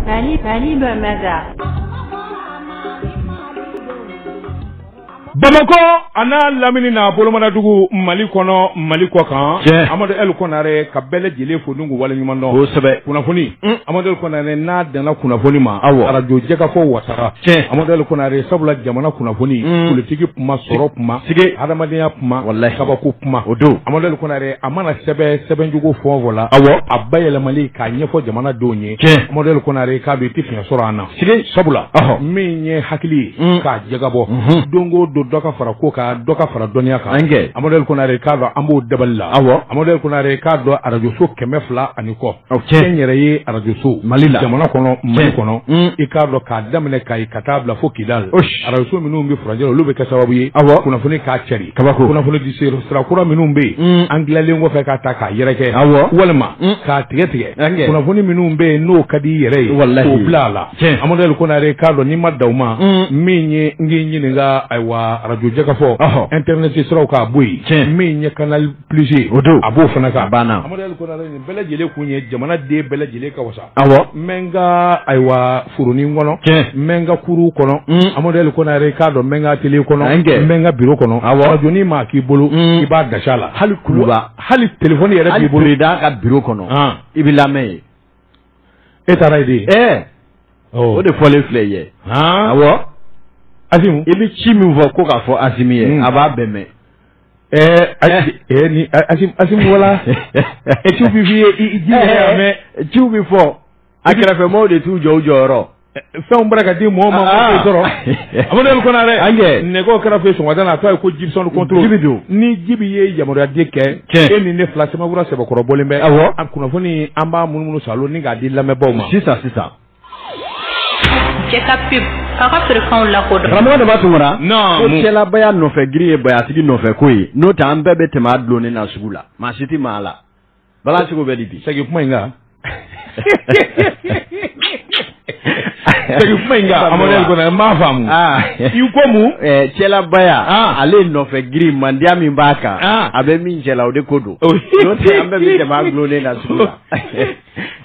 Mali Mali bamada bamakɔ an'a lamini n'a bolomanadugu mali kɔnɔ mali kɔ kan amadu ɛl konare ka bɛɛ lajɛlen fo n k'u waleɲuman dɔn kosɛbɛ kunnafoni amadu ɛl konare n'a danna kunnafoni ma arajo jɛkafɔ wasara cɛ amadu ɛl konare sabula jamana kunnafoni politigi kuma sɔrɔ kuma sigi hadamadenya kuma wala kabako kuma o don amadu ɛl konare a mana sɛbɛn sɛbɛncogo fɛn o fɛn la, awɔ, a bayɛlɛmali k'a ɲɛfɔ jamanadenw ye, tiɲɛ, Amadu Ɛl Konare k'a dɔn i tɛ fiɲɛ sɔrɔ an na, sigi, sabula, ɔhɔ, min ye hakili ye, un, k'a jagabɔ, unhun, don o don dɔ ka fara ko kan, dɔ ka fara dɔnniya kan, an kɛ, Amadu Ɛl Konare k'a dɔn an b'o dabali la, awɔ, Amadu Ɛl Konare k'a dɔn arajoso kɛmɛ fila ani kɔ O cɛ n yɛrɛ ye arajoso mali la jamana kɔnɔ mali kɔnɔ i k'a dɔn k'a daminɛ kayi ka taa bila fo kidal arajoso minnu bɛ furancɛ la olu bɛ kɛ sababu ye aw kunnafoni k'a cari kunnafoni di sira kura minnu bɛ yen an tilalen kɔfɛ k'a ta k'a yɛrɛkɛ aw walima k'a tigɛ tigɛ kunnafoni minnu bɛ yen n'o ka di i yɛrɛ ye k'o bila a la amadu ɛl konare k'a dɔn ni maa dama min ye n ɲininka ayiwa arajo jɛkafɔ internet siraw k'a bɔ yen cɛ min ye ka plus o don a b'o fana kan a banna Amadu Ɛl Konare nin bɛɛ lajɛlen kun ye jamanaden bɛɛ lajɛlen ka wasa awɔ n bɛ n ka ayiwa foronin kɔnɔ tiɲɛ n bɛ n ka kurun kɔnɔ Amadu Ɛl Konare k'a dɔn n bɛ n ka atelier kɔnɔ n bɛ n ka bureau kɔnɔ awɔ radionin maa k'i bolo i b'a gasi a la hali kuluba hali téléphone yɛrɛ b'i bolo hali président ka bureau kɔnɔ i bɛ lamɛn yen e taara yen de ɛɛ o de fɔlen filɛ i ye awɔ Asimu i bɛ ci min fɔ ko k'a fɔ Asimi ye a b'a bɛɛ mɛn. wala e ci bɛ f'i ye mɛ ci bɛ fɔ a kɛrɛfɛ maaw de t'u jɔ u jɔyɔrɔ fɛn bara ka di mɔgɔ ma ah. sɔrɔ amadu ɛl konare an kɛ nɛgɛ karafe sɔgɔmada la a tɔgɔ ye ko jibisɔn contrôle jibi don ni jibi ye yamaruya di kɛ e ni ne fila sɛbɛnkura sɛbɛnkɔrɔ bɔlen bɛɛ awɔ a kunnafoni an b'a munumunu salo ni k'a di lamɛnbaaw ma sisan sisan cɛ ka pub k'a ka feerefɛnw lakodɔn karamɔgɔ dama tun kɔnɔ Non, ko mun? cɛlabaya nɔfɛ giri ye bayatigi nɔfɛ ko ye n'o tɛ an bɛɛ bɛ tɛmɛ a dulonnen na sugu la maa si tɛ maga a la bala seko bɛ di bi segin kuma in kan segin kuma in kan Amadu Ɛl Konare n m'a faamu Ah. i ko mun Eh, cɛlabaya Ah. ale nɔfɛ giri mandiya min b'a kan Ah. a bɛ min cɛla o de ko don Oh. n'o tɛ an bɛɛ bɛ tɛmɛ a dulonnen na sugu la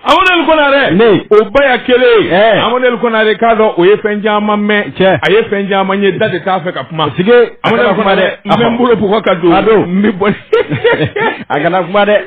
Amadu Ɛl Konare ne o baya kelen Amadu Ɛl Konare k'a dɔn o ye fɛn caman mɛn cɛ a ye fɛn caman ye da de t'a fɛ ka kuma sigi Amadu Ɛl Konare n bɛ n bolo bugɔ ka don a don n bɛ bɔ a kana kuma dɛ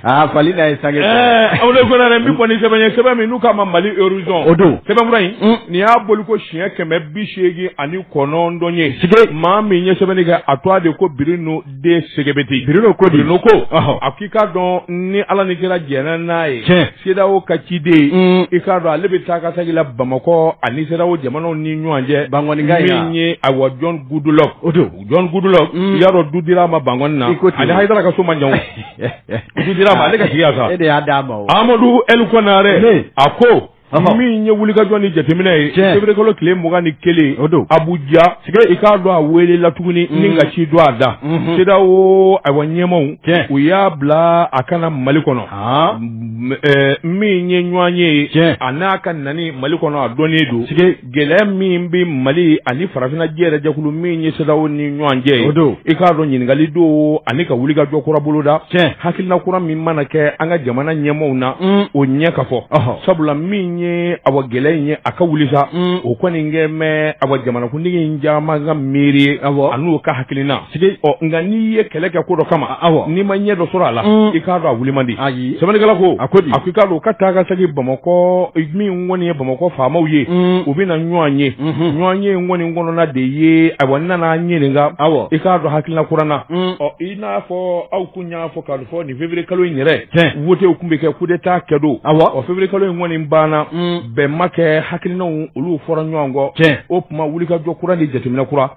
aa fali da ye sange Amadu Ɛl Konare n bɛ bɔ ni sɛbɛn ye sɛbɛn min n'u k'a ma Mali horizon o don sɛbɛnkura in nin y'a bɔli ko siɲɛ kɛmɛ bi seegin ani kɔnɔntɔn ye sigi maa min ye sɛbɛnni kɛ a tɔgɔ de ko biri n'o den sɛgɛti biri ko di ko a k'i k'a dɔn ni ala ni kira jɛnna n'a ye sedawo ka ciden mm. i k'a dɔn ale bɛ taa ka segin la bamakɔ ani sedawo jamanaw ni ɲɔgɔn cɛ bankanka min ye awa John Goodluck o don John Goodluck mm. i y'a dɔn du dira ma bank na ale hayidara ka so ma ɲɔgɔn du dira ma ale ka sigi sa e de y'a d'a ma amadu ɛl konare a ko min ye wulikajɔ ni jateminɛ ye feburuyekalo tile mugan ni kelen o don abuja i k'a dɔn a welela tuguni mm. ni ka ci don a da mm-hmm. sedawo ayiwa ɲɛmaaw u y'a bila a ka na mali kɔnɔ min ye ɲɔgɔnye ye an'a ka nani mali kɔnɔ a dɔnnen don gɛlɛya min bɛ mali ani farafinna yɛrɛ jɛkulu min ye sedawo ni ɲɔgɔn cɛ o don i k'a dɔn ɲininkakali don ani ka wuli ka jɔ kura bolo da cɛ hakilina kura min mana kɛ an ka jamana ɲɛmaaw na o ɲɛ ka fɔ sabula min ye awa gɛlɛya in ye a ka wuli sa o kɔni kɛ mɛn awa jamanakuntigi in caman ka miiri ani u ka hakilina nka n'i ye kɛlɛ kɛ ko dɔ kama aw n'i ma ɲɛ dɔ sɔrɔ a la i k'a dɔn a wuli man di sɛbɛnnikɛla ko a ko i k'a dɔn u ka taa ka segin bamakɔ kɔni ye bamakɔ faamaw ye u bɛna ɲɔgɔn ye ɲɔgɔnye kɔni kɔnɔna de ye a nana ɲininka aw i k'a dɔn hakilina kura na ɔ i n'a fɔ aw tun y'a fɔ k'a fɔ nin feburuyekalo in yɛrɛ wotew tun bɛ kɛ kudeta kɛ don aw o feburuyekalo in kɔni banna bɛn ma kɛ hakilinaw olu fɔra ɲɔgɔn kɔ cɛ o tuma wuli ka jɔ kura ni jateminɛ kura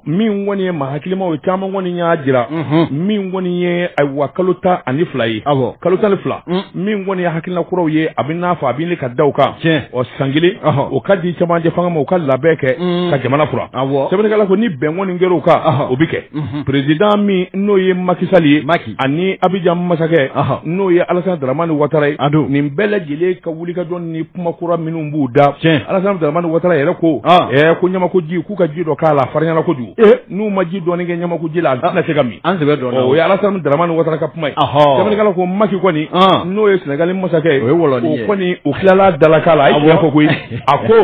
min kɔni ye maa hakilimaw caman kɔni y'a jira min kɔni ye ayiwa kalo tan ani fila ye aw kalo tan ni fila min kɔni ye hakilina kuraw ye a bɛn'a fɔ a bɛ ka da u kan tiɲɛ ɔ san kelen o ka di cɛmancɛ fanga ma u ka labɛn kɛ mm. ka jamana fura sɛbɛnnikɛla ko ni bɛn kɔni kɛra o kan o bɛ kɛ mm-hmm. perezidan min n'o ye Macky Sall ye Macky ani abijan masakɛ n'o ye Alassane Dramane Ouattara ye nin bɛɛ lajɛlen ka wulikajɔ ni kuma kura minnu b'u da tiɲɛ Alassane Dramane Ouattara yɛrɛ ko ko ɲamakuji k'u ka ji dɔ k'a la a farinyana kojugu n'u ma ji dɔɔni kɛ ɲamakuji la a tɛna se ka min an sɛbɛ don o ye Alassane Dramane Ouattara ka kuma ye Sɛbɛnnikɛla ko Macky kɔni n'o ye Senegali masakɛ ye o ye wɔlɔni ye o kɔni o tilala dalaka la a ye tiɲɛ fɔ koyi a ko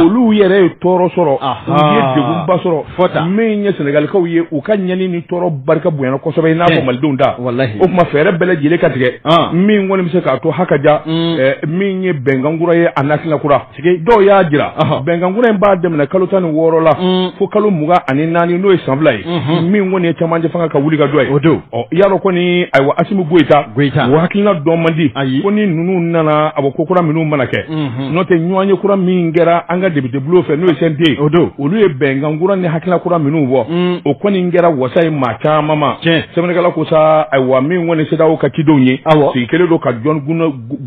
olu yɛrɛ ye tɔɔrɔ sɔrɔ u ye degunba sɔrɔ fɔ tan min ye Senegalikaw ye u ka ɲani ni tɔɔrɔ barika bonyana kosɛbɛ i n'a fɔ Malidenw ta walahi o tuma fɛɛrɛ bɛɛ lajɛlen ka tigɛ min kɔni bɛ se k'a to hakaja min ye bɛnkan kura ye ani hakilina kura dɔw y'a jira bɛnkankura in b'a daminɛ kalo tan ni wɔɔrɔ la mm. fo kalo mugan ani naani n'o ye san fila ye mm-hmm. min kɔni ye cɛmancɛ fanga ka wulikajɔ ye o don y'a dɔn kɔni ayiwa asimi goyita goyita o hakilina dɔn man di ayi ko ni ninnu nana awa ko kura minnu mana kɛ mm-hmm. n'o tɛ ɲɔgɔnye kura min kɛra an ka depitebulon fɛ n'o ye CNT o don olu ye bɛnkankura ni hakilina kura minnu bɔ mm. o kɔni kɛra wasa ye maa caman ma tiɲɛ sɛbɛnnikɛla ko sa ayiwa min kɔni sedawo ka cidenw ye awɔ sigi kelen don ka jɔn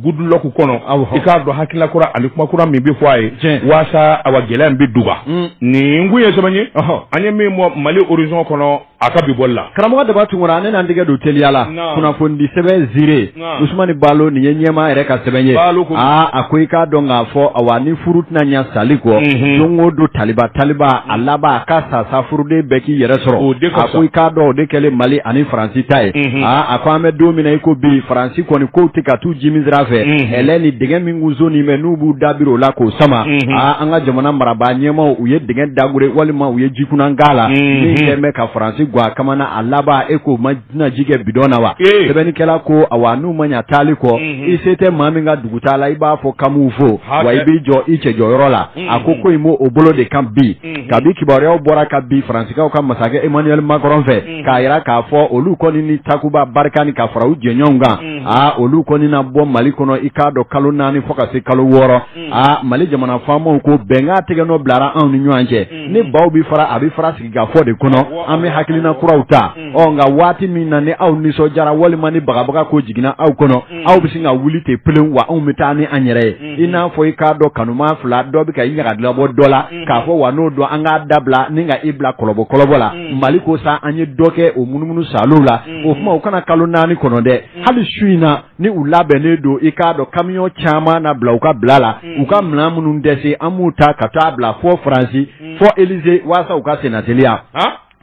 goodluck kɔnɔ i k'a dɔn hakilina kura ani kuma kura min bɛ fɔ a ye waasa awa gɛlɛya in bɛ duba mm. nin kun ye sɛbɛn ye an ye min bɔ mali horizon kɔnɔ a ka bi bɔli la karamɔgɔ daba tunkara ne n'an tɛgɛ don teliya la kunnafonidi sɛbɛn zire usumani balo nin ye ɲɛmaa yɛrɛ ka sɛbɛn ye aa a ko i k'a dɔn k'a fɔ awa ni furu tɛna ɲa sali kɔ mhm. don o don taliba taliba a laban a ka sa sa furuden bɛɛ k'i yɛrɛ sɔrɔ a ko i k'a dɔn o de kɛlen mali ani faransi ta ye mhm. a ko an bɛ don min na i ko bi faransi kɔni kow tɛ ka t'u jimi sira fɛ ɛlɛ ni dɛgɛ min kun sonnin mɛ n'u b'u da biri o la k'o sama aa an ka jamana marabaa ɲɛmaw u ye dɛgɛ dagore walima u ye jikunan k'a la min kɛlen bɛ ka faransi ga a kamana a laban e k'o mana ji kɛ bidɔn na wa sɛbɛnnikɛla ko awa n'u ma ɲa taali kɔ i se tɛ maa min ka dugutaa la i b'a fɔ k'an b'u fo wa i b'i jɔ i cɛjɔyɔrɔ la a ko ko in b'o bolo de kan bi kabi kibaruyaw bɔra ka bi faransikaw ka masakɛ emmanuel macron fɛ k'a yira k'a fɔ olu kɔni ni takuba barikani ka fara u jɛɲɔgɔnw kan mm-hmm. aa olu kɔni na bɔ mali kɔnɔ i k'a dɔn kalo naani fo ka se kalo wɔɔrɔ mm-hmm. aa mali jamana faamaw ko bɛnkan tɛgɛ nɔ bilara anw ni ɲɔgɔn cɛ mm-hmm. ni baw bɛ fara a bɛ fara sigikafɔ de kɔnɔ an bɛ hakilina kuraw ta ɔ nka waati min na ni aw nisɔndiyara walima ni bagabaga ko jiginna aw kɔnɔ aw bɛ sin ka wuli ten pelen wa anw bɛ taa ni an yɛrɛ ye i n'a fɔ i k'a dɔn kanuma fila dɔ bɛ ka i ɲagadilabɔ dɔ la k'a fɔ wa n'o don an k'a dabila ni ka i bila kɔlɔbɔ kɔlɔbɔ la mali ko sa an ye dɔ kɛ o munumunu salo la o kuma u kana kalo naani kɔnɔ dɛ hali su in na ni u labɛnnen don i k'a dɔn kamiyɔn caman na bila u ka bila la u ka minɛn minnu dɛsɛ an b'u ta ka taa bila fo faransi fo elize waasa u ka senna teliya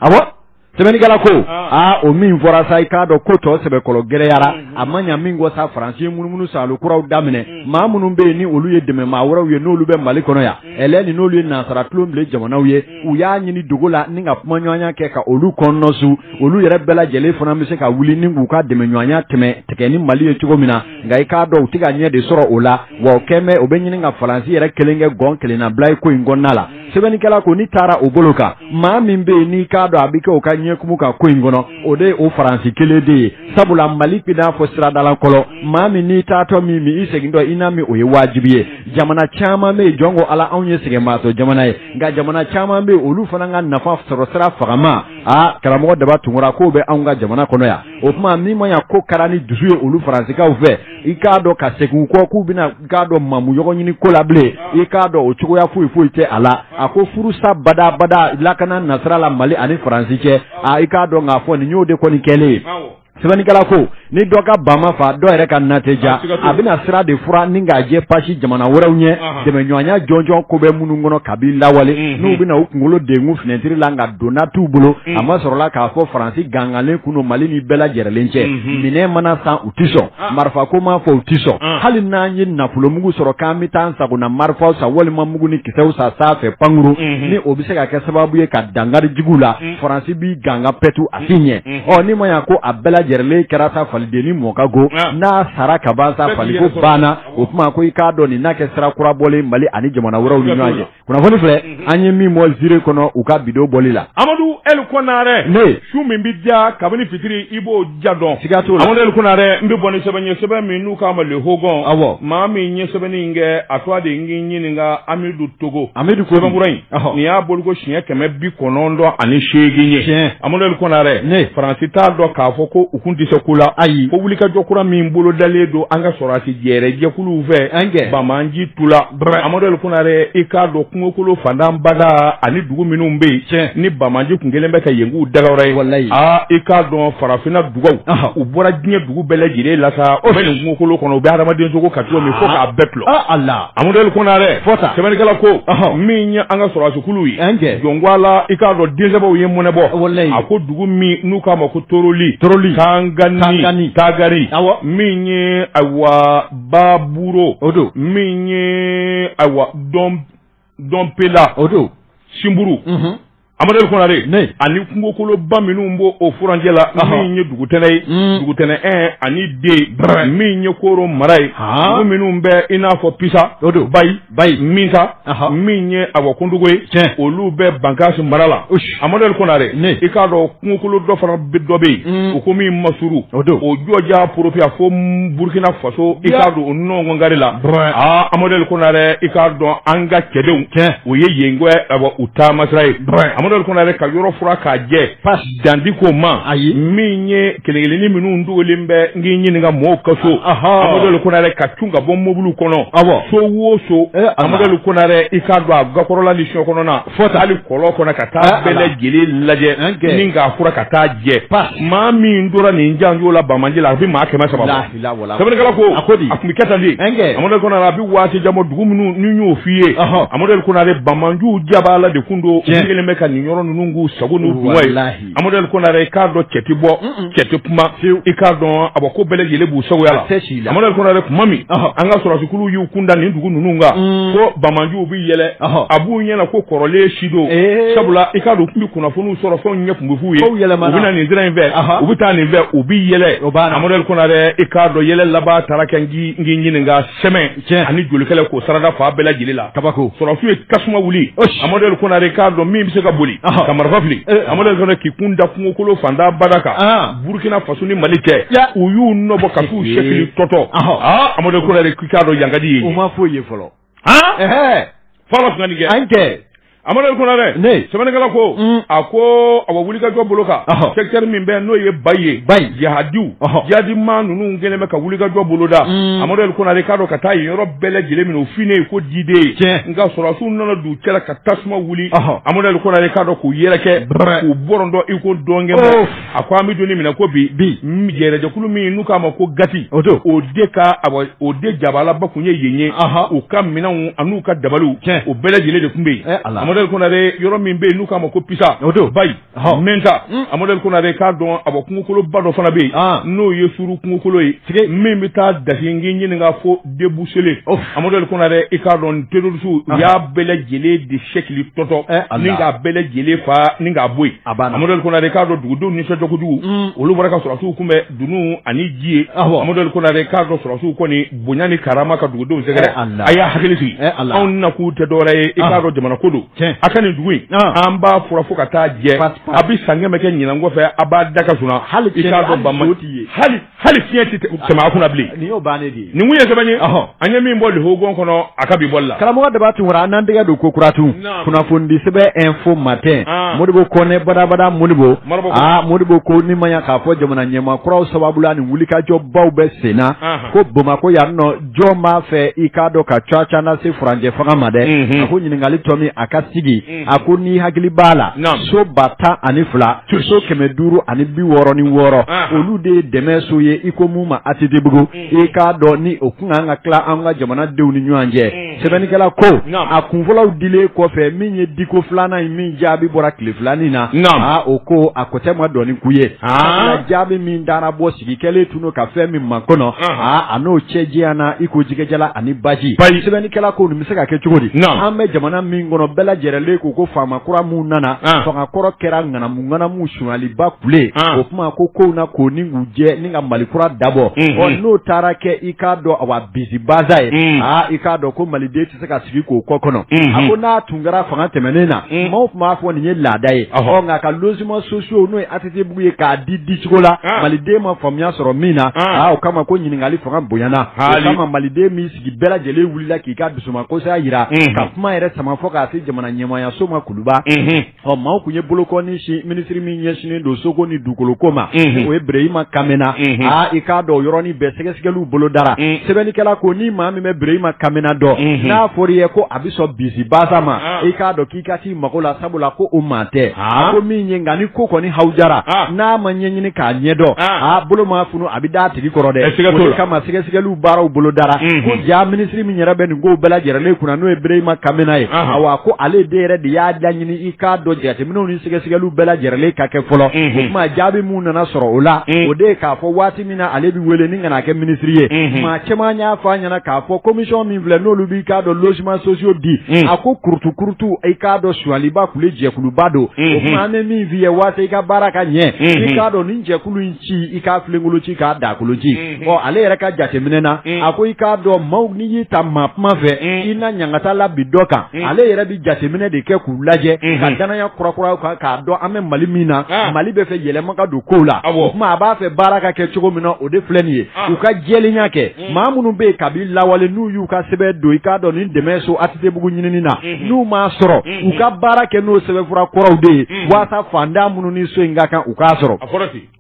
awɔ sɛbɛnnikɛla ko aa o min fɔra sa i k'a dɔn ko tɔ sɛbɛkɔrɔ gɛlɛyara a ma ɲa min kɔ sa faransi ye munumunu salo kuraw daminɛ maa minnu bɛ yen ni olu ye dɛmɛmaa wɛrɛw ye n'olu bɛ mali kɔnɔ yan ɛlɛ ni n'olu ye nansara tulobilen jamanaw ye u y'a ɲini dogo la ni ka kumaɲɔgɔnya kɛ ka olu kɔnɔnɔsu olu yɛrɛ bɛɛ lajɛlen fana bɛ se ka wuli ni k'u ka dɛmɛɲɔgɔnya tɛmɛ tigɛ ni mali ye cogo min na nka i k'a dɔn u tɛ ka ɲɛ de sɔrɔ o la wa o kɛn bɛ o bɛ ɲini ka faransi yɛrɛ kelen kɛ gɔn kelennabila ye ko in kɔnɔna la sɛbɛnnikɛla ko ni taara o bolo kan maa min bɛ yen n'i k'a dɔn a bɛ kɛ o ka ɲɛkumu ka ko in kɔnɔ o de ye o faransi kelen de ye sabula mali b'i n'a fɔ siradala kɔlɔn maa min n'i taatɔ m'i min i segintɔ i n'a min o ye wajibi ye jamana caman bɛ yen jɔn ko ala anw ye sɛgɛnbaatɔ jamana ye nka jamana caman bɛ yen olu fana ka nafa sɔrɔ sira fangama a karamɔgɔ daba tunkara k'o bɛ anw ka jamana kɔnɔ yan o tuma min ma ɲa ko kɛra ni dusu ye olu faransikaw fɛ i k'a dɔn ka segin u kɔ k'u bɛna i k'a dɔn mamu ɲɔgɔn ɲini ko la bilen i k'a dɔn o cogoya foyi foyi tɛ a la a ko furusa badabada lakana nasira la mali ani faransi cɛ a i k'a dɔn k'a fɔ nin y'o de kɔni kɛlen ye sɛbɛnnikɛla ko ni dɔ ka ba ma fa dɔ wɛrɛ ka na tɛ diya a bɛna sira de fura ni k'a jɛ pasi jamana wɛrɛw ɲɛ dɛmɛɲɔgɔnya jɔnjɔn ko bɛ minnu kɔnɔ kabi lawale n'u bɛna u kunkolo dengu finɛtiri la nka donna t'u bolo a masɔrɔla k'a fɔ faransi gangalen kun mali ni bɛɛ lajɛrɛlen cɛ minɛn mana san u tɛ sɔn marifa ko ma fɔ u tɛ sɔn hali n'an ye nafolomugu sɔrɔ k'an bɛ taa sagona marifaw san walima mugu ni kisɛw san sanfɛ pankuru ni o bɛ se ka kɛ sababu ye ka dankari juguw la faransi b'i ganga pɛtu si ɲɛ ɔ ni ma y'a ko a bɛɛ lajɛrɛlen kɛra sa faliden ni mɔka go n'a sara ka ban sa fali ko banna o kuma ko i k'a dɔn nin n'a kɛ sira kura bɔlen mali ani jamana wɛrɛw ni ɲɔgɔn cɛ kunnafoni filɛ an ye min bɔ zire kɔnɔ u ka bi don bɔli la amadu eli kɔnare ne su min bɛ diya kabini fitiri i b'o diya dɔn siga t'o la amadu eli kɔnare n bɛ bɔ ni sɛbɛn ye sɛbɛn min n'u k'a ma le hogon awɔ maa min ye sɛbɛnni in kɛ a tɔgɔ de n k'i ɲininka amidu togo amidu ko sɛbɛnkura in nin y'a bɔli ko siɲɛ kɛmɛ bi kɔnɔntɔn ani seegin ye amadu kɔnare ne faransi t'a dɔn k'a fɔ ko u kun tɛ se ko la ayi ko wulikajɔ kura min bolo dalen don an ka sɔrɔsi jɛrɛ jɛkuluw fɛ an kɛ banbaanci tu la amadu kɔnare i k'a dɔn kungokolo fantanbada ani dugu minnu bɛ yen ni banbaanci kun kɛlen bɛ ka yen k'u dagayɔrɔ ye aa i k'a dɔn farafinna dugaw u bɔra diɲɛ dugu bɛɛ lajɛlen la sa o bɛ nin kungokolo kɔnɔ u bɛ hadamadensogo ka cogo min fo k'a bɛɛ tulo a la Amadu Kɔnare fɔ sɛbɛnnikɛla ko min ye an ka sɔrɔsikulu ye jɔn ko la i k'a dɔn den sɛbɛw ye mɔnɛ bɔ a ko dugu min n'u k'a ma ko toroli tangani tagari min ye ayiwa baburo o don min ye ayiwa dɔn dɔnpela o don simburu Amadu Kɔnare ne ani kungokoloba minnu b'o o furancɛ la min ye dugutɛnɛ ye mm. dugutɛnɛ un ani deux min ye koro mara ye dugu minnu bɛ i n'a fɔ pisa o don bayi bayi minta min ye awɔ kundugu ye tiɲɛ olu bɛ bankasi mara la Amadu Kɔnare ne i k'a dɔn kungokolo dɔ fana dɔ bɛ yen mm. u ko min masuru o don o jɔja porofiya fo Burkina Faso i k'a don o nɔngɔngari la aa Amadu Kɔnare i k'a dɔn an ka cɛdenw tiɲɛ o ye yen ko awɔ u taamasira ye amadu kɔnare ka yɔrɔ fura k'a jɛ dan tɛ ko ma ayi min ye kelenkelenin minnu dogolen bɛ n k'i ɲininka mɔgɔw ka so amadu kɔnare ka cun ka bɔ mobiliw kɔnɔ awɔ so o so eh, amadu kɔnare i k'a dɔn a gakɔrɔla ni so kɔnɔna fo ta hali kɔlɔn kɔnɔ ka taa eh, bɛɛ lajɛlen lajɛ ni k'a fura ka taa jɛ maa min tora nin janjo la banbaanci la a bɛ maa kɛmɛ saba bɛ waati jan bɔ dugu minnu y'o f'i ye amadu banbaanciw jaba la de kun don kɛlen bɛ ka nin yɔrɔ ninnu k'u sago n'u dungɔ ye amadu i k'a dɔn cɛ tɛ bɔ cɛ tɛ kuma i k'a dɔn a ko bɛɛ lajɛlen b'u sagoya la amadu kuma min an ka sɔrɔsikuluw y'u kun da nin dugu ninnu kan ko banbaanciw yɛlɛ a b'u ɲɛna ko kɔrɔlen si don sabula i k'a dɔn u tun bɛ kunnafoniw sɔrɔ fɛnw ɲɛ tun bɛ f'u ye u bɛna nin sira in fɛ u bɛ taa nin fɛ u bɛ yɛlɛ amadu konare i k'a dɔn yɛlɛ laban taara kɛ n k'i ɲininka sɛmɛn ani jolikɛla k'o sarada fa bɛɛ lajɛlen la kabako sɔrɔsiw ye tasuma wuli amadu konare i k'a dɔn min bɛ se ka boli ka marifa fili amadu konare k'i kun da kungokolo fanda bada kan burukina faso ni mali cɛ u y'u nɔbɔ ka t'u sɛkili tɔtɔ amadu konare k'i k'a dɔn yankadi ye u ma foyi ye fɔlɔ kɛ amadu konare sɛbɛnnikɛla ko a ko a wulikajɔ bolo kan secteur min bɛ n'o ye bayi ye jihadiw jihadima ninnu kɛlen bɛ ka wulikajɔ bolo da amadu konare k'a dɔn ka taa yen yɔrɔ bɛɛ lajɛlen minɛ o fini ye ko diden ye tiɲɛ nka sɔrɔsiw nana d'u cɛla ka tasuma wuli amadu konare k'a dɔn k'u yɛrɛkɛ k'u bɔrɔndɔ iko dɔnkɛ a ko an bɛ don min na ko bi bi yɛrɛ jɛkulu min n'u k'a ma ko gati o don o de ka o de jabalaba tun ye yen ye u ka minɛnw an'u ka dabaliw tiɲɛ o bɛɛ lajɛlen de tun bɛ yen amadu konare yɔrɔ min bɛ yen n'u k'a ma ko pisa o don bayi mɛnta amadu konare k'a dɔn a kungokoloba dɔ fana bɛ yen n'o ye suru kungokolo ye min bɛ taa dasi n k'i ɲininka fo debusele amadu konare i k'a dɔn tɛrɔrisiw u y'a bɛɛ lajɛlen de sɛkili tɔtɔ ni k'a bɛɛ lajɛlen fa ni k'a bɔ yen amadu konare i k'a dɔn dugudenw nisɔndiya kojugu mm. olu bɔra ka sɔrɔsiw kunbɛn dunun ani ji ye amadu konare i k'a dɔn sɔrɔsiw kɔni bonya ni karama ka dugudenw sɛgɛrɛ a y'a hakili sigi anw nakun tɛ dɔwɛrɛ ye i k'a dɔn jamana ko don a ka nin dugu in an b'a fura fo ka taa jɛ a bɛ san kɛmɛ kɛ ɲinan kɔfɛ a b'a da ka sunaa hali i k'a dɔn ban hali hali fiɲɛ tɛ tɛmɛ a kunna bilen. nin y'o bannen de ye. nin kun ye sɛbɛn ye. an ye min bɔ le hogon kɔnɔ a ka bi bɔli la. karamɔgɔ daba tunkara an n'an tɛgɛ don kokura tun. kunnafonidi sɛbɛn info matin. Ah. modibo kɔnɛ badabada modibo. aa ah, modibo ko ni ma ɲa k'a fɔ jamana ɲɛmaa kuraw sababu la nin wulikajɔbaw bɛ sen na. Ah. ko bamakɔ yan nɔ jɔn b'a fɛ i k'a dɔn ka cuwa-cuwa lase furancɛ fanga ma dɛ. Mhm. a ko ɲininkali tomi a ka sigi. a ko n'i hakili b'a la so ba tan ani fila so kɛmɛ duuru ani bi wɔɔrɔ ni wɔɔrɔ olu de ye dɛmɛ so ye iko min ma atetebugu i k'a dɔn ni o kun kan ka tila an ka jamana denw ni ɲɔgɔn cɛ sɛbɛnnikɛla ko a kunfɔlɔw dilen kɔfɛ min ye diko filanan in min jaabi bɔra tile filanin na o ko a kotɛ ma dɔɔni k'u ye jaabi min dara bɔ sigi kɛlen tun ka fɛn min ma kɔnɔ a n'o cɛ janyana i ko jɛgɛjalan ani baji baji sɛbɛnnikɛla ko nin bɛ se ka kɛ cogo di an bɛ jamana min kɔnɔ bɛɛ lajɛlen de ko ko faama kura minnu nana fanga kɔrɔ kɛra ŋanamu ŋanamu sonyaliba kule o tuma ko kow na ko ni k'u jɛ ni ka mali kura dabɔ ɔ n'o taara kɛ i k'a dɔn awa bisibaza ye aa i k'a dɔn ko maliden se ka sigi k'o kɔ kɔnɔ a ko n'a tun kɛra fanga tɛmɛnen na maaw tun b'a fɔ nin ye laada ye ɔ nka ka logement sociaux n'o ye ATTbugu ye k'a di dicogo la maliden ma faamuya sɔrɔ min na aa o kama ko ɲininkali fanga bonyana o kama maliden m'i sigi bɛɛ lajɛlen wulila k'i ka dusumakosaya yira ka kuma yɛrɛ sama fɔ k'a se jamana ɲɛmaayaso ma kuluba ɔ maaw tun ye bolokɔni sin minisiri min ɲɛsinnen don soko ni dugukoloko ma o ye bereyima kamena aa i k'a dɔn yɔrɔnin bɛɛ sɛgɛsɛgɛliw bolo dara sɛbɛnnikɛla ko ni maa min bɛ bereyima kamena dɔn n'a fɔra i ye ko a bɛ sɔn bisi basa ma i k'a dɔn k'i ka t'i mago la sabula ko o maa tɛ a ko min ye nka ni ko kɔni hawujara n'a ma ɲɛɲini k'a ɲɛdɔn aa bolo ma a bɛ da tigi kɔrɔ dɛ o de kama sɛgɛsɛgɛli baaraw bolo dara ko ja minisiri min yɛrɛ bɛ nin ko bɛɛ lajɛlen kunna n'o ye bereyima kamena ye wa ko ale de yɛrɛ de y'a laɲini i k'a dɔn jateminɛw ni sɛgɛsɛgɛli bɛɛ lajɛlen ka kɛ fɔlɔ o tuma jaabi min nana sɔrɔ o la o de ye k'a fɔ waati min na ale bɛ wele ni ka na kɛ minisiri ye maa caman y'a fɔ a ɲɛna k'a fɔ commission min filɛ n'olu b'i k'a dɔn logements sociaux di a ko kurutu kurutu i k'a dɔn suliba tun jɛkuluba don o tuma an bɛ min f'i ye waasa i ka baara ka ɲɛ i k'a dɔn nin jɛkulu ci i k'a filenkolo ci k'a dakolo ci mhm. ɔ ale yɛrɛ ka jateminɛ na mhm. a ko i k'a dɔn maaw n'i y'i ta maa kuma fɛ mhm. i na ɲangata labin dɔ kan ale yɛrɛ bi jateminɛ de kɛ k'u lajɛ ka danaya kurakuraw kan k'a dɔn an bɛ mali min na ah. mali bɛ fɛ yɛlɛma ka don kow la o tuma a b'a fɛ baara ka kɛ cogo min na o de filɛ nin ye ah. u ka jɛlenya kɛ Mm. maa minnu bɛ yen kabi lawale n'u y'u ka sɛbɛn don i k'a dɔn nin dɛmɛ so ATTbugu ɲinini na mm-hmm. n'u m'a sɔrɔ mm-hmm. u ka baara kɛ n'o sɛbɛnfura kɔrɔw de ye mm-hmm. waasa fantan minnu ni so in ka kan u k'a sɔrɔ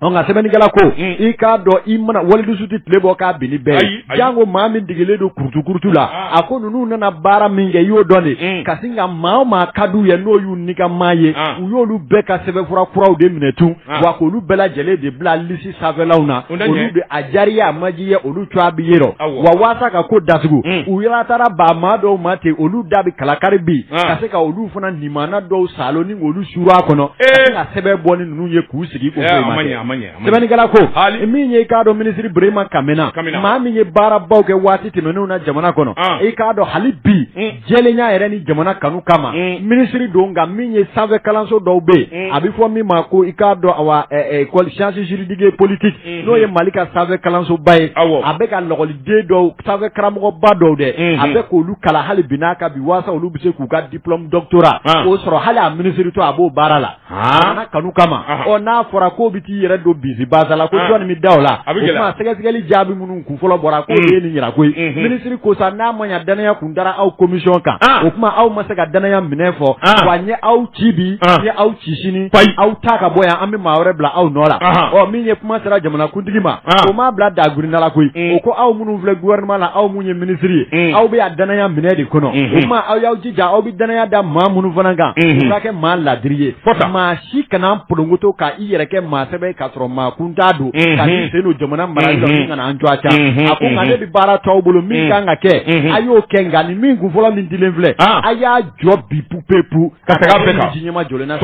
nka sɛbɛnnikɛla ko mm. i k'a dɔn i mana walidusu tɛ tile bɔ k'a bin ni bɛɛ ye janko maa min degelen don kurutu kurutu la ah. a ko ninnu nana baara min kɛ i y'o dɔn de mm. ka sin ka maa o maa ka d'u ye n'o y'u nikanmaa ye ah. u y'olu bɛɛ ka sɛbɛnfura kuraw de minɛ tun ah. wa k'olu bɛɛ lajɛlen de bila lisi sanfɛlaw na O la ɲɛ. olu bɛ a jariya a majiya olu cogoya bɛ ye rɔ Awɔ. wa waasa ka ko datugu Mm. u yɛrɛ taara ba maa dɔw ma ten olu da bɛ kalakari bi Ah. ka se ka olu fana nimana dɔw salo ni olu suru a kɔnɔ ka Eh. se ka sɛbɛn bɔ ni ninnu ye k'u sigi ko Eh, foyi a ma ma ɲɛ, kɛ. a ma ɲɛ, a ma ɲɛ. sɛbɛnnikɛla ko Hali. min ye i k'a dɔn minisiri Burema Kamena Kamena. maa min ye baarabaw kɛ waati tɛmɛnenw na jamana kɔnɔ Ah. i k'a dɔn hali bi Mm. jɛlenya yɛrɛ ni jamana kanu kama mm. minisiri don nka min ye sanfɛ kalanso dɔw bɛ yen mm. a bɛ fɔ min ma ko i k'a dɔn awa école sciences juridiques et politiques mm-hmm. n'o ye mali ka sanfɛ kalansoba ye a bɛ ka lɔgɔliden dɔw sanfɛ karamɔgɔba dɔw dɛ mm-hmm. a bɛ k'olu kalan hali bi n'a ka bi waasa olu bɛ se k'u ka diplôme doctorat ah. k'o sɔrɔ hali a minisiritɔ a b'o baara la na kanu kama ɔ n'a fɔra ko bɛ t'i yɛrɛ don bisi basa la ko jɔnni bɛ da o la o kuma sɛgɛsɛgɛli jaabi minnu kun fɔlɔ bɔra k'o ye nin jira koyi minisiri ko sa n'a ma ɲɛ danaya kun dara aw komisiyɔn kan o kuma aw ma se ka danaya minɛ fɔ wa n ye aw ci bi n ye aw ci sini aw ta ka bɔ yan an bɛ maa wɛrɛ bila aw nɔ la ɔ min ye kuma sera jamanakuntigi ma o m'a bila dagurinda la koyi o ko aw minnu filɛ guwɛrinama la aw minnu ye minisiri ye aw bɛ danaya minɛ de kɔnɔ o kuma aw y'aw jija aw danaya da maa minnu fana kan u ka kɛ maa laadiri ye maa si kana polongoto ka i yɛrɛ kɛ maa sɛbɛ k'a sɔrɔ maa kuntan don ka n'i sen don jamana marali la min kana an jɔ a ca a ko nka ne bɛ baara to aw bolo min kan ka kɛ a y'o kɛ nka nin min kun fɔlɔ min dilen filɛ a y'a jɔ bi pupepu ka taga bɛɛ ka ji ɲɛma jɔlen na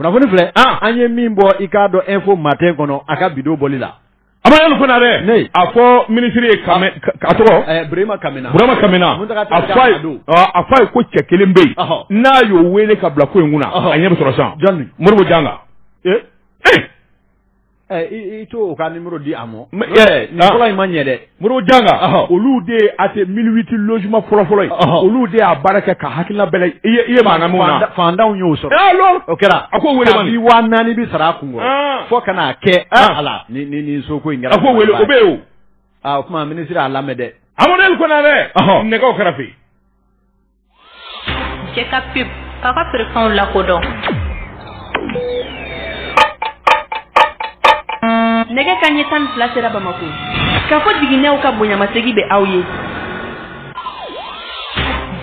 kunnafoni filɛ an ye min bɔ i k'a dɔn info matin kɔnɔ a ka bi don bɔli la Amadu konare a fɔ minisiri ye a tɔgɔ burama kamena a fɔ a ye ko cɛ kelen bɛ yen n'a y'o weele ka bila ko in kunna a ɲɛ bɛ sɔrɔ sisan modibo janka i t'o ka nimɔrɔ di a ma nin fɔlɔ in ma ɲɛ dɛ modibo janka olu de ye a tɛ mille huit logement fɔlɔfɔlɔ ye olu de y'a baara kɛ ka hakilila i ye fantanw y'o sɔrɔ o kɛra a ko naani bɛ sara fo ka n'a kɛ ala ni so ko a ko wele o bɛ yen o kuma minisiri a lamɛn dɛ amadu konare nɛgɛ kɛrɛ fɛ cɛ ka pe k'a ka feerefɛnw lakodɔn nɛgɛ ka ɲɛ tan ni fila sera bamakɔ k'a fɔ jiginɛw ka bonyamasegin bɛ aw ye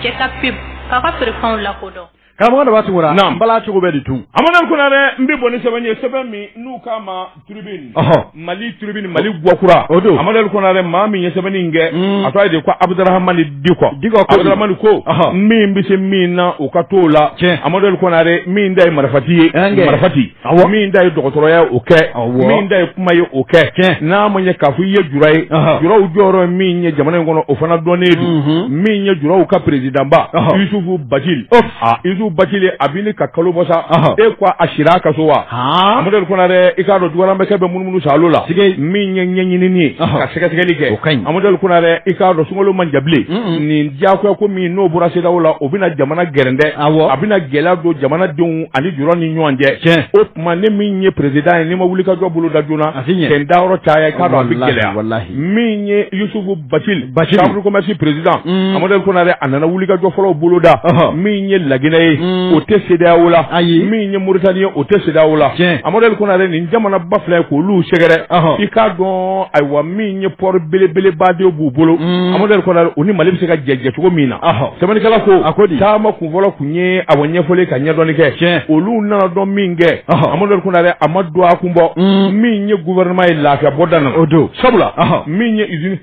cɛ ka pe k'a ka feerefɛnw lakodɔn Karamɔgɔ a da tugura n bala cogo bɛ di tun amadu konare n bɛ bɔ ni sɛbɛn ye sɛbɛn min n'u k'a ma tribune mali tribune mali gakura o don amadu konare maa min ye sɛbɛnni kɛ mm. a tɔgɔ ye de ko abuduramani diko diko abuduramani ko min bɛ se min na o ka t'o la tiɲɛ amadu konare min da ye marifati ye marifati Awɔ. min da ye dɔgɔtɔrɔya ye o kɛ Awɔ. min da ye kuma ye o kɛ Tiɲɛ. n'a ma ɲɛ k'a fɔ i ye jura ye Ɔhɔ. juraw jɔyɔrɔ min ye jamana in kɔnɔ o fana dɔnnen don Mhm. min ye juraw ka perezidanba Ɔhɔ. yusufu bacili Ɔf. Ah, yusufu bacili a bɛ ni ka kalo bɔ sa Ɔhɔ. e ko a sira a ka so wa Han. amadu konare i k'a dɔn dugalamɛkɛ bɛ munumunu sa alo la Sike. min ye ɲɛɲinini ye Ɔhɔ. ka sɛgɛsɛgɛli kɛ O ka ɲi. amadu konare i k'a dɔn sunkalo man jan bilen Mm-mm. nin diyagoya ko min n'o bɔra sedeyawo la o bɛna jamana gɛrɛndɛ Awɔ. a bɛna gɛlɛya don jamanadenw ani juraw ni ɲɔgɔn cɛ tiɲɛ o kuma ne min ye perezdan ye ni n ma wuli ka jɔ bolo da joona a ɲɛ kɛ n da yɔrɔ caya i k'a dɔn a bɛ gɛlɛya min ye yusufu bacili chambre commerce perezdan mm. amadu konare a nana wuli ka jɔ fɔlɔ bolo da min ye laginɛ ye mm. o tɛ sedeyawo la ayi min ye moritani ye o tɛ sedeyawo la tiɲɛ amadu konare nin jamana ba fila ye k'olu sɛgɛrɛ i k'a dɔn ayiwa min ye pɔri belebeleba de b'u bolo mm. amadu konare o ni mali bɛ se ka jɛ jɛ cogo min na sɛbɛnnikɛla ko a ko di taama fɔlɔ tun ye a ɲɛfɔli ka ɲɛdɔnni kɛ tiɲɛ olu nana dɔn min kɛ amadu konare a ma don a kun bɔ mm. min ye gouvernement ye lafiya bɔ dan o don sabula min ye usine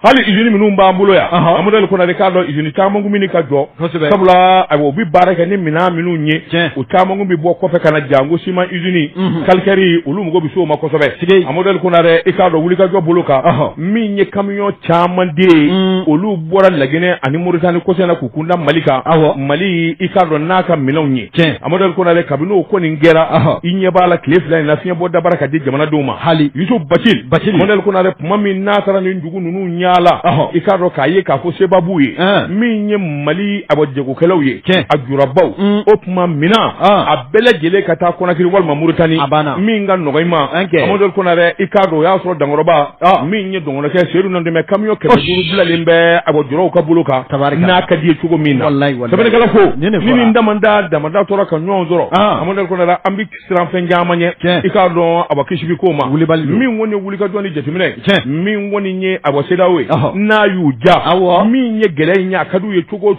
hali usine minnu b'an bolo yan amadu konare i k'a dɔn usine caman kun bɛ ka jɔ sabula u bɛ baara kɛ ni minɛn minnu ye u caman kun bɛ bɔ kɔfɛ ka na jango siman usine mhm. kalikɛri olu mago bɛ se o ma kosɛbɛ amadu konare i k'a dɔn wulikajɔ bolo kan min ye camion caman de ye mm. olu bɔra laginɛ ani muritani kosɛbɛ k'u kunda mali kan mali i k'a dɔn n'a ka minɛnw ye tiɲɛ amaduri konare kabini o ko nin kɛra i ɲɛ b'a la tile fila in na fiɲɛ bɔ dabara ka di jamanadenw ma hali yusu batili amaduri konare tuma min n'a taara nin dugu ninnu yaala i k'a dɔn k'a ye k'a fɔ sebabu ye min ye mali awɔ jagokɛlaw ye tiɲɛ a julabaw mm. o tuma min na a bɛɛ lajɛlen ka taa kɔnakiri walima muritani min ka nɔgɔn i ma amaduri konare i k'a dɔn o y'a sɔrɔ dankɔrɔba min ye n kɔrɔkɛ seyidu nantumɛ camion kɛmɛ duuru bilalen bɛ awɔ julaw ka bolo kan tari n'a ka d'u ye cogo min na ko ni damada damada tora ka ɲɔgɔn sɔrɔ a an bɛ siran fɛn caman ɲɛ i k'a dɔn a kisi bi ko ma kulibali min kɔni ye wulikajɔ ni jateminɛ min kɔni ye awɔ CEDEAO ye n'a y'u ja min ye gɛlɛya in ɲɛ ka d'u ye cogo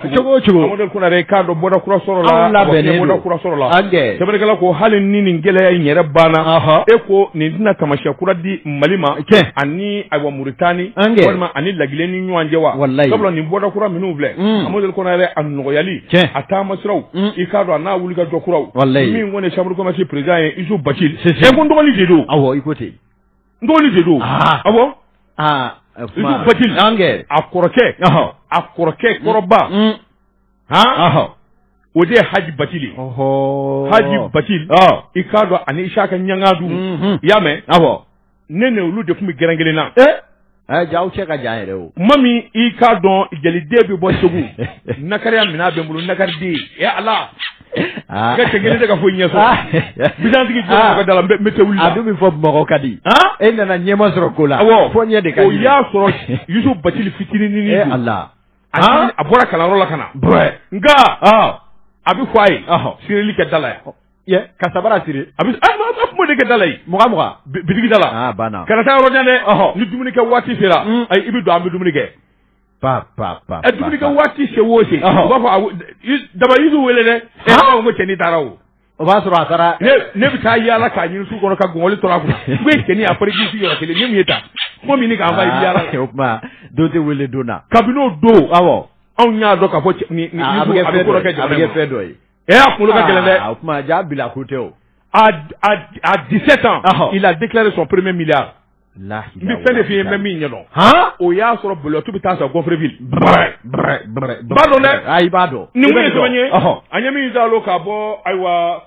amadu konare i k'a dɔn bɔda kura sɔrɔla bɔda kura sɔrɔla ko hali ni nin gɛlɛya in yɛrɛ banna e ko nin tɛna taamasiyɛn kura di Mali ma ani awɔ muritani walima ani laginɛ ni ɲɔgɔn cɛ wa sabula nin bɔda kura minnu filɛ amadu konare a nɔgɔyali a taama siraw i k'a dɔn a n'a wulikajɔ kuraw min kɔni chambre de commerce président ye yusu batili ko n dɔgɔnin de don awɔ i ko ten n dɔgɔnin de don awɔ ba a kɔrɔkɛ a kɔrɔkɛ kɔrɔba han o de ye haji batili haji batili i k'a dɔn ani isaka ɲangadu i y'a mɛn ne ni olu de tun bɛ gɛrɛn kelen na ɛɛ jaa aw cɛ ka jan yɛrɛ o tuma min i k'a dɔn jaliden bɛ bɔ segu nakariya minɛn bɛ n bolo nakariden ɛ ala Ah. ka kelen tɛ ka foyi ɲɛ sɔrɔ bitigi jɔ ka da la n bɛ tɛ wuli a dun bɛ fɔ bamakɔ ka di e nana ɲɛ ma sɔrɔ ko la fɔ ɲɛ de ka di o y'a sɔrɔ yusu batili fitinin ni ala a bɔra kalanyɔrɔ la ka na nka a bɛ fɔ a ye sirili kɛ da la yan ka sabara siri a bɛ kuma de kɛ da la yen mugan mugan bitigi da la kana taa yɔrɔ jan dɛ ni dumuni kɛ waati sera mm. i bɛ don an bɛ dumuni kɛ pa pa pa ɛ dumuni kɛ waati se o se u b'a fɔ daba yusu wele dɛ ɛ ko cɛnin taara o O b'a sɔrɔ a taara ne bɛ taa yaala k'a ɲini su kɔnɔ ka gɔngɔli tora a kunna cɛnin a kisi yɔrɔ kelen min ye ta ko min k'a yaala kɛ o kuma don tɛ wele don na kabini o don anw y'a dɔn k'a fɔ nin bɛ kɛ fɛn dɔ ye ɛ a kunkolo ka gɛlɛn dɛ o kuma jaa bila ko tɛ o à dix-sept ans il a déclaré son premier milliard f'i ye n bɛ min ɲɛdɔn o y'a sɔrɔ bolo tu bɛ taa sɔrɔ gonfreville i b'a dɔn dɛ a ɲɛ min da ka bɔ ayiwa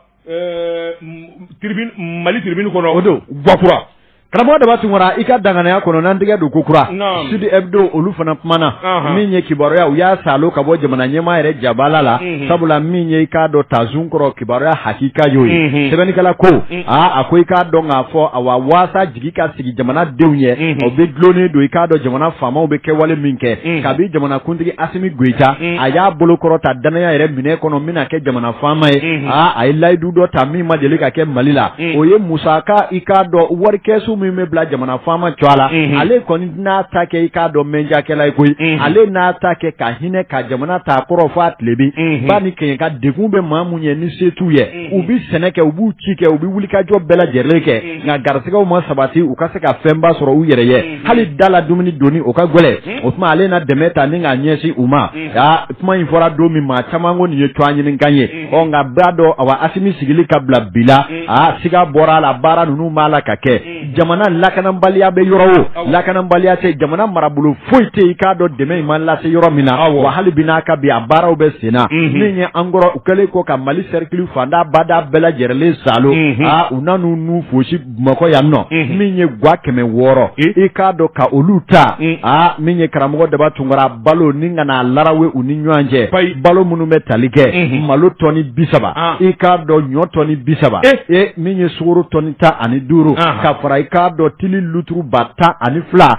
mali tribune kɔnɔ o don gakura karamɔgɔ daba tunkara i ka danganaya kɔnɔ n'an tɛgɛ don kokura sud hebdo olu fana kumana min ye kibaruya u y'a salo ka bɔ jamana ɲɛmaa yɛrɛ jabala la sabula min ye i k'a dɔn tazun kɔrɔ kibaruya hakika y'o ye sɛbɛnnikɛla ko a ko i k'a dɔn k'a fɔ awa waasa jigi ka sigi jamanadenw ye o bɛ dulonnen don i k'a dɔn jamana faamaw bɛ kɛwale min kɛ kabi jamanakuntigi asimi goyita a y'a bolo kɔrɔta dannaya yɛrɛ minɛ kɔnɔ min na kɛ jamana faama ye aa a ye layidu dɔ ta min ma deli ka kɛ mali la o ye musaka i k'a dɔn warikɛsu min bɛ bila jamana faama tɔgɔ la ale kɔni n'a ta kɛ i k'a dɔn mɛnjakɛla ye koyi ale n'a ta kɛ ka hinɛ ka jamana ta kɔrɔn fo a tilebin ba ni kɛɲɛka degun bɛ maa minnu ye ni se t'u ye u bɛ sɛnɛ kɛ u b'u ci kɛ u bɛ wulikajɔ bɛɛ lajɛlen kɛ nka garisɛgɛw ma sabati u ka se ka fɛnba sɔrɔ u yɛrɛ ye hali da la dumuni donni o ka gɛlɛ o tuma ale na dɛmɛ ta ni k'a ɲɛsin u ma aa kuma in fɔra don min maa caman ko nin ye tɔgɔɲinikan ye ɔ nka b'a dɔn awa asimi sigili ka bila bi la aa siga bɔra a la baara ninnu b'a la ka kɛ jamana lakananbaliya bɛ yɔrɔ o lakananbaliya tɛ jamana marabolo foyi tɛ i k'a dɔn dɛmɛ in ma lase yɔrɔ min na wa hali bi n'a ka bi a baaraw bɛ sen na min ye an kɔrɔ u kɛlen kɔ ka mali sɛrikili fanda bada bɛɛ lajɛrɛlen salo aa u na n'u n'u fosi bamakɔ yan nɔ min ye gwa kɛmɛ wɔɔrɔ i k'a dɔn ka olu ta aa min ye karamɔgɔ daba tunkara balo ni ka n'a larawe u ni ɲɔgɔn cɛ balo minnu bɛ tali kɛ malo tɔni bi saba i k'a dɔn ɲɔ tɔni bi saba ee min ye sukoro tɔni tan ani duuru ka fara i k'a dɔn tulu luturu ba tan ani fila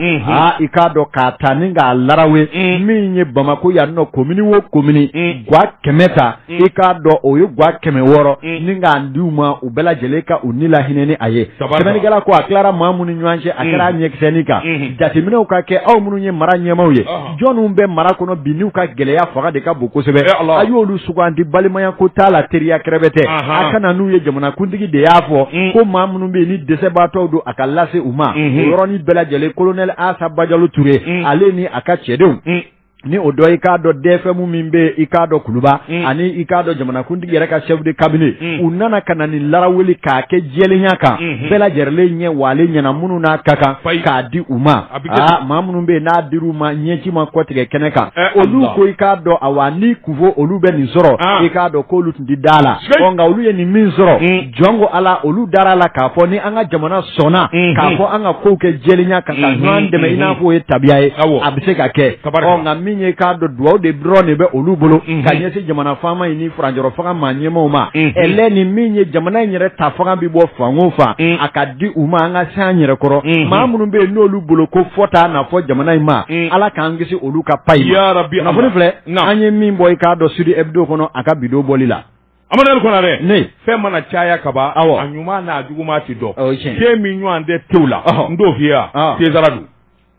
i k'a dɔn k'a ta ni k'a larawe min ye bamakɔ yan nɔ komini wo komini gwa kɛmɛ ta i k'a dɔn o ye gwa kɛmɛ wɔɔrɔ ni k'a di u ma u bɛɛ lajɛlen ka u ni lahinɛ ni a ye sɛbɛnnikɛla ko a tilara maa minnu ni ɲɔgɔn cɛ a kɛra ɲɛkisɛni kan jateminɛw ka kɛ aw minnu ye mara ɲɛmaaw ye jɔnw bɛ mara kɔnɔ bi n'u ka gɛlɛya fanga de ka bon kosɛbɛ a y'olu sugandi balimaya ko t'a la teriya kɛrɛfɛ tɛ a kana n'u ye jamanakuntigi de y'a fɔ mm. ko maa minnu bɛ yen ni dɛsɛbaatɔw don a ka lase u ma mm-hmm. o yɔrɔnin bɛɛ lajɛlen kolonɛli asa bajalo ture mm. ale ni a ka cɛdenw mm. ni o dɔ i k'a dɔn dɛɛfɛmu min bɛ i k'a dɔn kuluba mm. ani i k'a dɔn jamanakuntigi yɛrɛ ka chef de cabinet mm. u nana ka na nin laraweli k'a kɛ jɛlenya kan mm-hmm. bɛɛ lajɛrɛlen ɲɛ wale ɲɛna minnu n'a ka kan k'a di u ma Aa maa minnu bɛ yen n'a dir'u ma ɲɛji ma kɔtigɛ kɛnɛ kan olu ko i k'a dɔn awa ni kun fɔ olu bɛ nin sɔrɔ i k'a dɔn ko olu tun tɛ da la nka olu ye nin min sɔrɔ hmm. jɔn ko ala olu dara la k'a fɔ ni an ka jamana sɔnna hmm. k'a fɔ an ka kow kɛ jɛlenya kan ka hmm. ɲɔgɔn dɛmɛ i n'a fɔ o ye tabiya ye a bɛ se ka kɛ nka min ye k'a dɔn dugawu de dɔrɔn de bɛ olu bolo ka ɲɛsin jamana faama ɲini furancɛrɔ fanga maa ɲɛmaw ma ɛlɛn ni min ye jamana in yɛrɛ ta fanga bɛ bɔ fan o fan a ka di u ma an ka se an yɛrɛ kɔrɔ maa minnu bɛ yen n'olu bolo ko fɔta n'a fɔ jamana in ma ala k'an kisi olu ka payi ma kunnafoni filɛ an ye min bɔ i k'a dɔn Sud Hebdo kɔnɔ a ka bidon bɔli la Amadu Konarɛ ne fɛn mana caya kaban a ɲuman n'a juguman tɛ dɔn te min ɲɔgɔn tɛ tew la n t'o f'i ye César don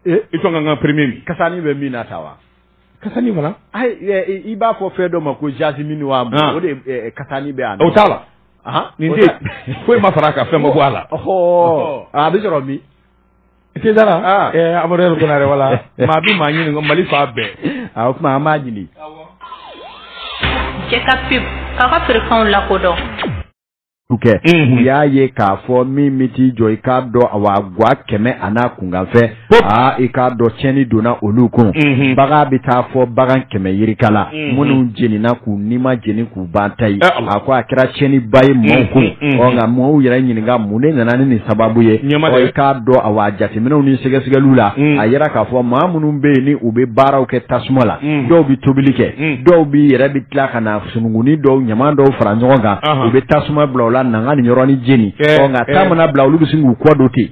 i ka kan ka premier min kasanin bɛ min na ta wa Kasanin fana i b'a fɔ fɛn dɔ ma ko jasmin wa o de kasanin bɛ yan o t'a la nin de foyi ma far'a kan fɛn ma bɔ a la a bɛ sɔrɔ min César Amadu Konarɛ wala maa bɛ maa ɲini ko Mali fan bɛɛ o tuma an b'a ɲini cɛ ka pub k'a ka feerefɛnw lakodɔn kɛ u y'a ye k'a fɔ min min t'i jɔ i k'a dɔn a wa gwa kɛmɛ a n'a kunkanfɛ aa i k'a dɔn tiɲɛni donna olu kun bagan bɛ taa fɔ bagan kɛmɛ yirika la minnu jenina k'u nima jeni k'u ban ta ye a ko a kɛra tiɲɛni ba ye mɔgɔw kun ɔ nka mɔgɔw yɛrɛ ɲininka mun de nana ni nin sababu ye i k'a dɔn a wa jateminɛw ni sɛgɛsɛgɛliw la a yera k'a fɔ maa minnu bɛ yen ni u bɛ baaraw kɛ tasuma la dɔw bɛ tobili kɛ dɔw bɛ yɛrɛ bɛ tila ka na sununkunnin dɔw ɲaman dɔw fara ɲɔgɔn kan u bɛ tasuma bila u la nanga nin yɔrɔnin jeni nka ta mana bila olu bɛ sin k'u kɔ don ten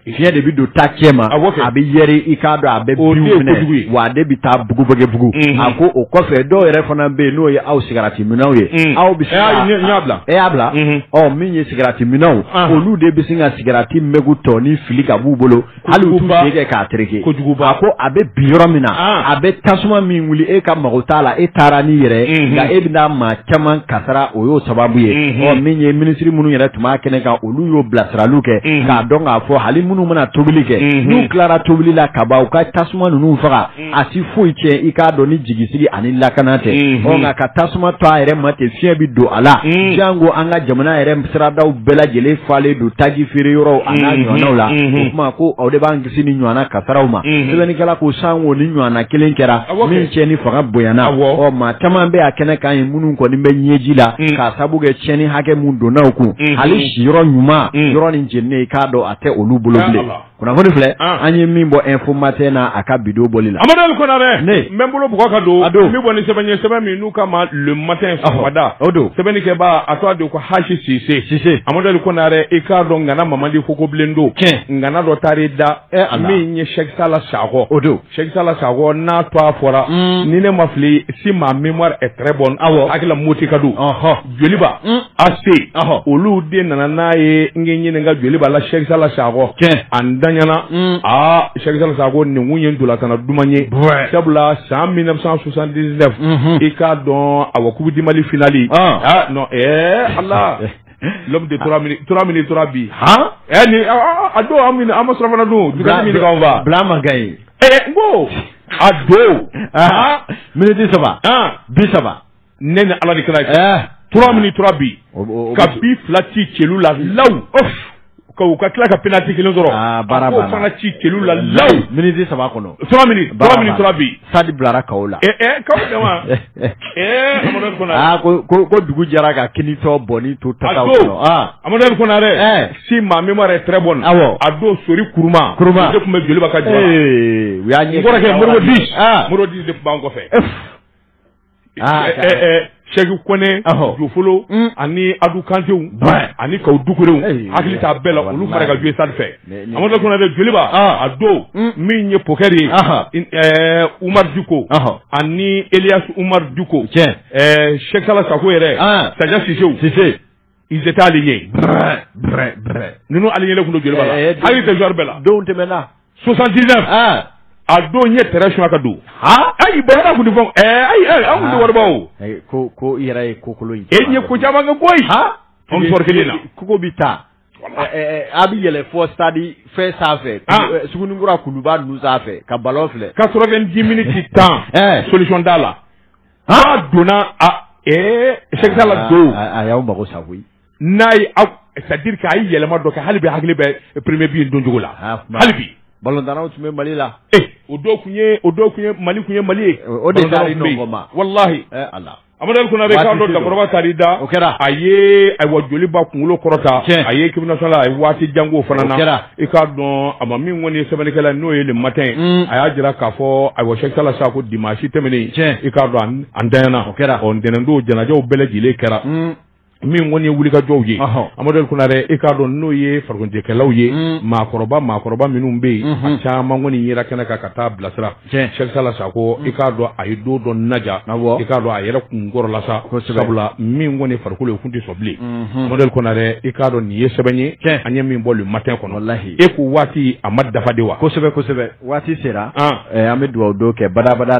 fiɲɛ de bɛ don ta cɛ ma a bɛ yɛrɛ i k'a dɔn a bɛ minɛ wa de bɛ taa bugubugubugu a ko o kɔfɛ dɔw yɛrɛ fana bɛ yen n'o ye aw sigaratiminnaw ye aw bɛ e y'a bila min ye sigaratiminnaw olu de bɛ sin ka sigarati mɛgo tɔnin fili ka b'u bolo hali u t'u sen kɛ k'a tereke a ko a bɛ bin yɔrɔ min na ah. a bɛ tasuma min wuli e ka mago t'a la e taara n'i yɛrɛ mhm. nka e bɛna maa caman kasara o y'o sababu ye mhm. ɔ min ye minisiri minnu yɛrɛ tun b'a kɛnɛ kan olu y'o bilasiraliw kɛ mhm. k'a dɔn k'a fɔ hali minnu mana tobili kɛ n'u tilara tobili la ka ban u ka tasuma ninnu faga a tɛ foyi tiɲɛ i k'a dɔn ni jigisigi ani lakana tɛ nka ka tasuma to a yɛrɛ ma ten fiɲɛ bɛ don a la janko an ka jamana yɛrɛ siradaw bɛɛ lajɛlen falen don taji feere yɔrɔw a n'a ɲɔgɔnnaw la o tuma ko aw de b'an kisi nin ɲɔgɔnna kasaraw ma sɛbɛnnikɛla ko sanko nin ɲɔgɔnna kelen kɛra min tiɲɛni fanga bonyana ɔ maa caman bɛ a kɛnɛ kan ye minnu kɔni bɛ ɲɛji la k'a sabu kɛ tiɲɛni hakɛ min donna u kun hali siyɔrɔ ɲuman yɔrɔnin jeninen i k'a dɔn a tɛ olu bolo bilen kunnafoni filɛ an ye min bɔ info matin na a ka bidon bɔli la Amadu Konarɛ ne n bɛ n bolo bugɔ ka don a don n bɛ bɔ ni sɛbɛn ye sɛbɛn min n'u k'a ma le matin sɔgɔmada o don sɛbɛnni kɛbaa a tɔgɔ de ko Hashi Sise Sise Amadu Konarɛ i k'a dɔn ŋana ma man di fo ko bilen don tiɲɛ ŋana dɔ taar'i da min ye Sɛki Sala Sakɔ o don Sɛsa la sa n'a to a fɔra ni ne ma fili si maa min ɛ bɔ aw hakilila moti ka don joliba a se olu de nana n'a ye n ɲini ka joli b'a la sɛsala sa a dayana aa sɛsala sa nin ye dulatana duman ye sabula san mi susan dise i k'a dɔn a wa kubi di mali fili aa ala de trois trois minutes trois buts hɔn ɛ ni a don an ma an ma surɔfana dun du min fa bila man ka ye ɛ n ko a don miniti saba bi saba ne ni ala de kira trois minutes trois buts ka bi fila ci celu la lawu Ka u ka tila ka penalty 1 sɔrɔ aa baara banna a k'o fana ci kelu la law minutes 3 kɔnɔ 3 minutes 3 minutes 3 buts stade bilara kawo la ɛ ɛ kaw tɛ wa ɛɛ Amadou Konare aa ko ko ko dugu jɛra ka kinitɔ bɔnni to tataw kɔnɔ aa Amadou Konare ɛɛ si ma mémoire est très bonne awɔ a don sori kuruma kuruma de tun bɛ joliba ka jɔ ee u y'a ɲɛ n kɔrɔkɛ Modibo Dix aa Modibo Dix de tun b'an kɔfɛ Seku Kɔnɛ Jofolo ani adu kantew ani Kaw Dukurew hakili t'a bɛɛ la olu fara ka jouer Stade fɛ Amadu Konare joliba a don min ye Poker ye Umaru Diko ani Elias Umaru Diko Cheikh Sala Sako yɛrɛ Sadia Sisew sise Ils étaient alignés brɛɛ brɛɛ brɛɛ ninnu alignélen tun don Joliba la ɛɛ don hakili tɛ joueur bɛɛ la donw tɛmɛna 79 aa a don n ye terrain suɲɛ ka don haa ayi Bɛlɛda tun tɛ fɔ ɛɛ ayi ayi an tun tɛ wariba o ayi ko ko i yɛrɛ ye ko kolo ye e n ye ko caman kɛ koyi haa an bɛ sɔrɔ kelen na kogo bɛ taa ɛɛ a bɛ yɛlɛ fɔ stade fɛn sanfɛ Ah. ɛɛ, Sugunikura kuluba ninnu sanfɛ ka ballon filɛ 90 minutes tan ɛɛ solution t'a la A donna Cheikh Sala don a y'aw mago sa koyi n'a ye c'est-à-dire que a ye yɛlɛma dɔ kɛ hali bi hakili bɛ premier bi doncogo la hali bi balɔntannaw tun bɛ mali la o tun o tun ye mali tun ye mali ye o de walahi amadu Konare a dɔn cɛkɔrɔba taar'i da o kɛra a ye ayiwa Joliba kunkolo kɔrɔta a ye équipe nationale a ye waati jan k'o fana na i k'a dɔn a ma min kɔni ye sɛbɛnnikɛla n'o ye le matin ye mm. a y'a jira k'a fɔ ayiwa Cheikh Sala Sako dimanche tɛmɛnen i k'a dɔn a ntanyana o kɛra ɔ ntɛnɛndon janajaw bɛɛ lajɛlen kɛra mm. min kɔni ye wulikajɔw ye Amadu Konare i k'a dɔn n'o ye farikoloɲɛnajɛkɛlaw ye mm. maakɔrɔba maakɔrɔba minnu bɛ yen a mm-hmm. caman kɔni yera kɛnɛ kan ka taa bilasira Cheikh Sala Sako i k'a dɔn a ye don dɔ naja i k'a dɔn a yɛrɛ kun kɔrɔla sa sabula min kɔni farikolo ye kun tɛ sɔn bilen Amadu Konare i k'a dɔn nin ye sɛbɛn ye an ye min bɔ le matin kɔnɔ layi e ko waati a ma dafa de wa kosɛbɛ kosɛbɛ waati sera an bɛ dugawu don kɛ badabada